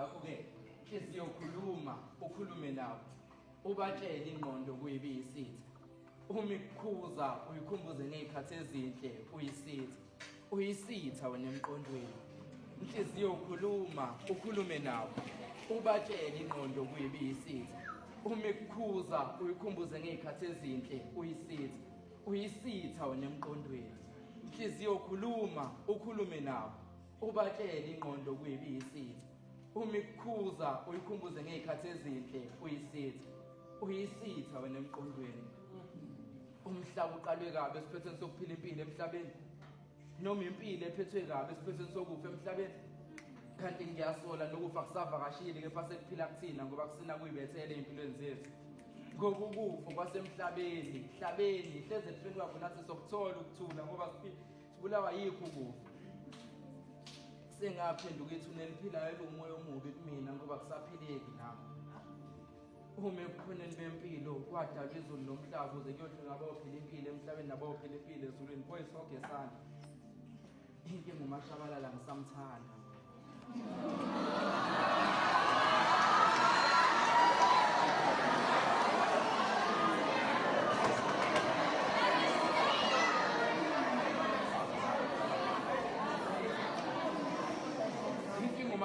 ngakho-ke inhliziyo khuluma ukhulume nabo ubatshele ingqondo kuyibe iyisitha uma ikukhuza uyikhumbuze ngey'khathi ezinhle uyisitha uyisitha wena emqondweni inhliziyo ukhuluma ukhulume nabo ubatshele ingqondo kuyibe iyisitha uma ikukhuza uyikhumbuze ngey'khathi ezinhle uyisitha uyisitha wena emqondweni inhliziyo ukhuluma ukhulume nabo Ubatshele ingqondo kuyibi yisitha. Uma ikukhuza uyikhumbuze ngezikhathi ezinhle uyisitha. Uyisitha wena emqondweni. Umhlaba uqalwe kabi esiphethweni sokuphila impilo emhlabeni. Noma impilo ephethwe kabi esiphethweni sokufa emhlabeni. Kanti ngiyasola nokufa kusavakashile kepha sekuphila kuthina ngoba kusina kuyibethele empilweni zethu. Ngokukufa kwasemhlabeni, hlabeni, hleze kufeni kwakho nathi sokuthola ukuthula ngoba siphila sibulawa yikho ukufa sengaphenduka ithuna eliphilayo elingumoya omubi kumina ngoba kusaphileki nami uma ekukhoneni bempilo kwadalwa izulu nomhlaba ukuze kuyohlwe ngabawophila impilo emhlabeni nabawophila impilo ezulwini boyisogesana inkinga umashabalala ngisamthanda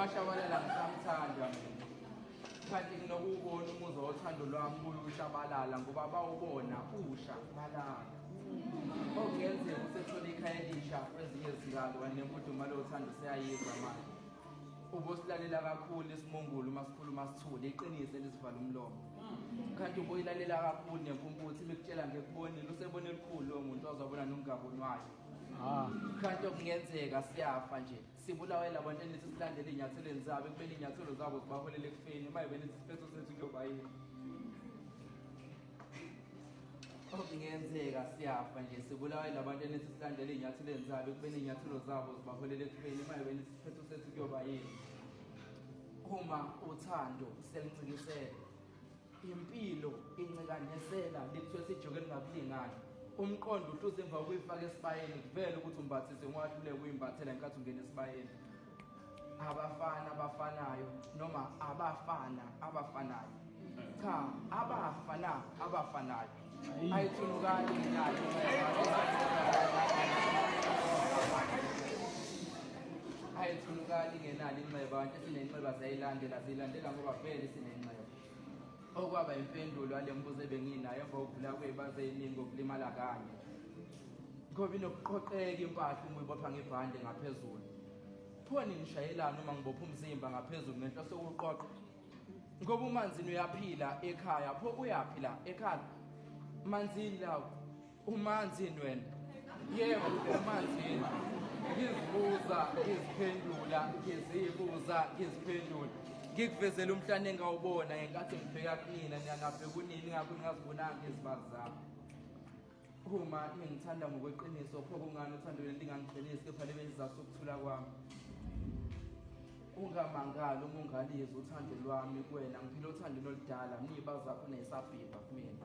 umashabalela ngisamthanda kanti nginokuwubona umuzwa wothando lwami kuyushabalala ngoba bawubona usha balala Okungenzeka oh, usethole ikhaya elisha kwezinye izikalo kanti nemfudumalo yothando seyayizwa manje. Ubosilalela kakhulu isimungulu uma sikhuluma sithule iqiniso elisivala umlomo. Kanti uboyilalela kakhulu nempumputhe imikutshela ngekubonile usebona elikhulu lo muntu ozobona nongabonwayo. Ah. Kanti okungenzeka siyafa nje. Sibulawe labantu enithi silandele izinyathelweni zabo ekumele izinyathelo zabo zibaholele ekufeni uma ibenithi siphetho sethu kuyoba yini. okungenzeka siyafa nje sibulawa yilabantu enithi silandela iy'nyathelo zabo ekubeni iy'nyathelo zabo zibaholela ekubeni uma yobeni isiphetho sethu kuyoba yini uma uthando seluncikisele impilo incikanesela likuthiwe sijuke elingakulingani umqondo uhluza emva kokuyifaka esibayeni kuvele ukuthi umbathise ungahluleka uyimbathela ngenkathi ungena esibayeni abafana abafanayo noma abafana abafanayo cha abafana abafanayo ayithulukani nayo ayithulukani ngenani inxeba abantu esinenxeba siyayilandela siyilandela ngoba vele sinenxeba Okwaba impendulo yale mbuzo ebenginayo emva kokuvula kwebaze eningi okulimala kanye. Ngoba inokuqoqeka impahla uma uyibopha ngebhande ngaphezulu. Khona ngishayelana uma ngibopha umzimba ngaphezulu ngento sokuqoqa. Ngoba umanzini uyaphila ekhaya, pho uyaphila ekhaya. Manzini lawo Umanzi yini wena? Yebo, umanzi yini? Ngizibuza, ngiziphendula, ngizibuza, ngiziphendula. Ngikuvezela umhlane engawubona ngenkathi ngibheka kunina, niyangabheka kunini ngakho ngingazibonanga izibazi zami. Uma ngithanda ngokweqiniso, pho kungani uthando leli lingangiqinisi kepha libe isizathu sokuthula kwami? Ungamangali uma ungalizi uthando lwami kuwena, ngiphila othandweni oludala, niyiba zakho neyisabhibha kumina.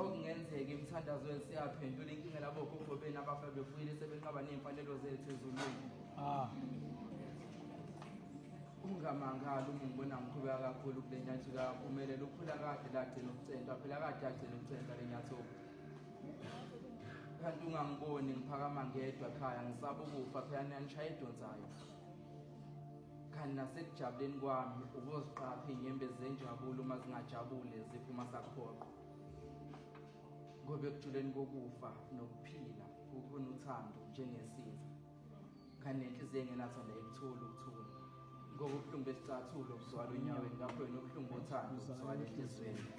okungenzeka emthandazweni siyaphendula inkinga labo gogo benu abafa befuyile sebenqaba ney'mfanelo zethu ezulwini ah. ungamangali uma ngibona ngikhubeka kakhulu kule nyathi kaphumelela ukhula kade lagcina ukucentwa phela kade agcina ukucentwa le nyathoku kanti ungangiboni ngiphakama ngedwa khaya ngisaba ukufa phela niyanishaye edonsayo kanti nasekujabuleni kwami ukuziqapha iy'nyembe zenjabulo uma zingajabule ziphuma sakhoqo ngoba ekujuleni kokufa nokuphila kukhona uthando njengesizwe kanti nenhliziyo engenathanda ikuthula ukuthula ngoba ubuhlungu besicathulo buzwala onyaweni ngakho yena ubuhlungu bothando buzwala enhliziyweni